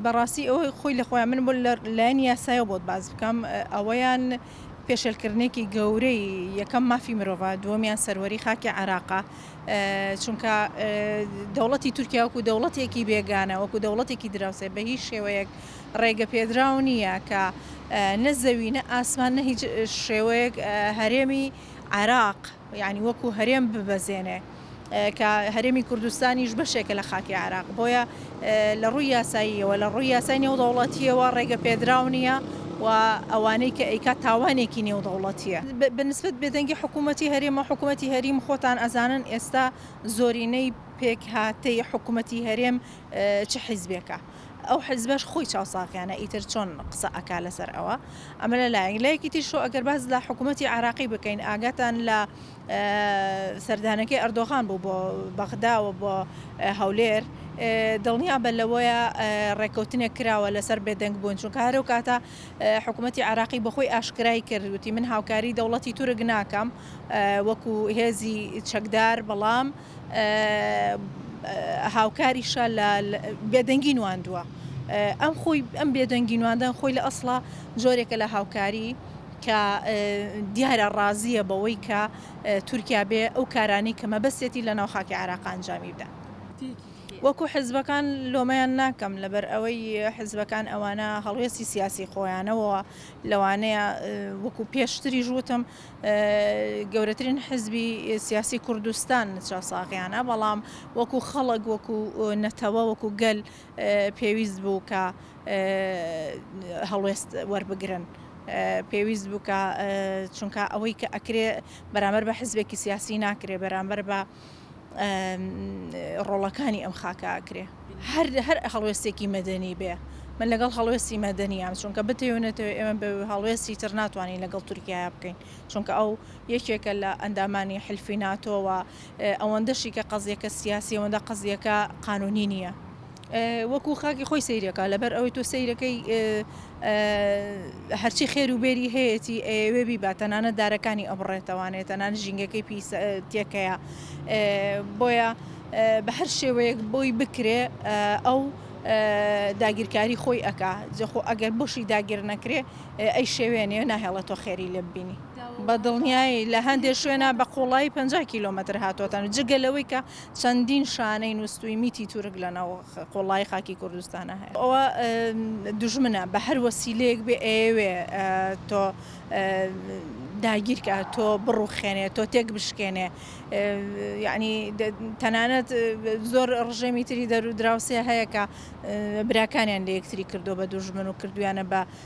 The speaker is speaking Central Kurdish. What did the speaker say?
بەڕاستی ئەوەی خۆی لە خۆیان من بۆ لە لایەنی یاسایەوە بۆت باز بکەم ئەوەیان پێشێلکردنێکی گەورەی یەکەم مافی مرۆڤە دووەمیان سەروەری خاکی عراقا چونکە دەوڵەتی تورکیا وەکو دەوڵەتێکی بێگانە وەکو دەوڵەتێکی دراوسێ بە هیچ شێوەیەک ڕێگە پێدراو نییە کە نە زەوی نە ئاسمان نە هیچ شێوەیەک هەرێمی عراق یانی وەکو هەرێم ببەزێنێ کە هەرێمی کوردستانیش بەشێکە لە خاکی عێراق بۆیە لە ڕووی یاساییەوە لە ڕووی یاسای نێودەوڵەتیەوە ڕێگە پێدراو نییە و ئەوانەی کە ئەیکا تاوانێکی نێودەوڵەتیە بەنسبت بێدەنگی حکوومەتتی هەرێمە حکوومەتتی هەریم خۆتان ئەزانن ئێستا زۆرینەی پێکهاتەی حکوومەتتی هەرێم چ حیزبێکە. ئەو حزبەش خۆی چاوساغیانە ئیتر چۆن قسە ئەکا لەسەر ئەوە ئەمە لە لایەک لایەکی تیشۆ ئەگەر باز لە حکوومەتتی عراقی بکەین ئاگاتان لە سەردانەکەی ئەردۆغان بوو بۆ بەغداوە بۆ هەولێر دڵنیا بە لەوەیە ڕێککەوتنێک کراوە لەسەر بێدەنگ بوون چون کارە و کاتە حکوومەتتی عراقی بەخۆی ئاشکرای کردوتی من هاوکاری دەوڵەتی تورک ناکەم وەکو هێزی چەکدار بەڵام هاوکاریشە لە بێدەنگی نواندوە. ئەم خۆی ئەم بێدەنگی نواندن خۆی لە ئەسڵا جۆرێکە لە هاوکاری کە دیارە ڕازیە بەوەی کە تورکیا بێ ئەو کارانەی کە مەبەستێتی لە ناو خاکی عێراق ئەنجامی بدات. وەکو حزبەکان لۆمەیان ناکەم لەبەر ئەوەی حزبەکان ئەوانە هەڵوێستی سیاسی خۆیانەوە لەوانەیە وەکو پێشتریش وتم گەورەترین حزبی سیاسی کوردستان چاساغیانە بەڵام وەکو خەڵک وەکو نەتەوە وەکو گەل پێویست بوو کە هەڵوێست وەربگرن. پێویست بووکە چونکە ئەوەی کە ئەکرێ بەرامەر بە حزبێکی سیاسی ناکرێ بەرامبەر بە ڕۆڵەکانی ئەم خاکە ئاکرێ هەر هەر هەڵوێستێکی مەدەنی بێ من لەگەڵ هەڵوێستی مەدەنیام چونکە بتەوێ نەتەوێ ئێمە بە هەڵوێستی تر ناتوانین لەگەڵ تورکایە بکەین چونکە ئەو یەکێکە لە ئەندامانی حلفی ناتۆوە ئەوەندەشی کە قەزیەکە سیاسی ئەوەندە قەزیەکە قانونی نییە. وەکو خاکی خۆی سەیرەکا لەبەر ئەوەی تۆ سەیرەکەی هەرچی خێر و بێری هەیەی ئەوێ بیبات تەنانە دارەکانی ئەبڕێتەوانێت تەنان ژینگەکەی پی تێکەیە بۆیە بە هەر شێوەیەک بۆی بکرێ ئەو داگیرکاری خۆی ئەک جەخۆ ئەگەر بۆشی داگیر نەکرێ ئەی شێوێنێ ناهێڵە تۆ خێری لێ ببینی بە دڵنیایی لە هەندێک شوێنە بە قوڵایی 50 کیلومتر هاتوتەن جگە لەوەی کە چەندین شانەی نوستووی میتی تورک لە ناو قوڵایی خاکی کوردستانا هەیە. ئەوە دوژمنە بە هەر وەسیلەیەک بێ ئەیەوێ تۆ داگیرکا تۆ بڕوخێنێ تۆ تێک بشکێنێ یعنی تەنانەت زۆر ڕژێمی تری دەرو دراوسێ هەیە کە براکانیان لە یەکتری کردو بە دوژمن و کردویانە بە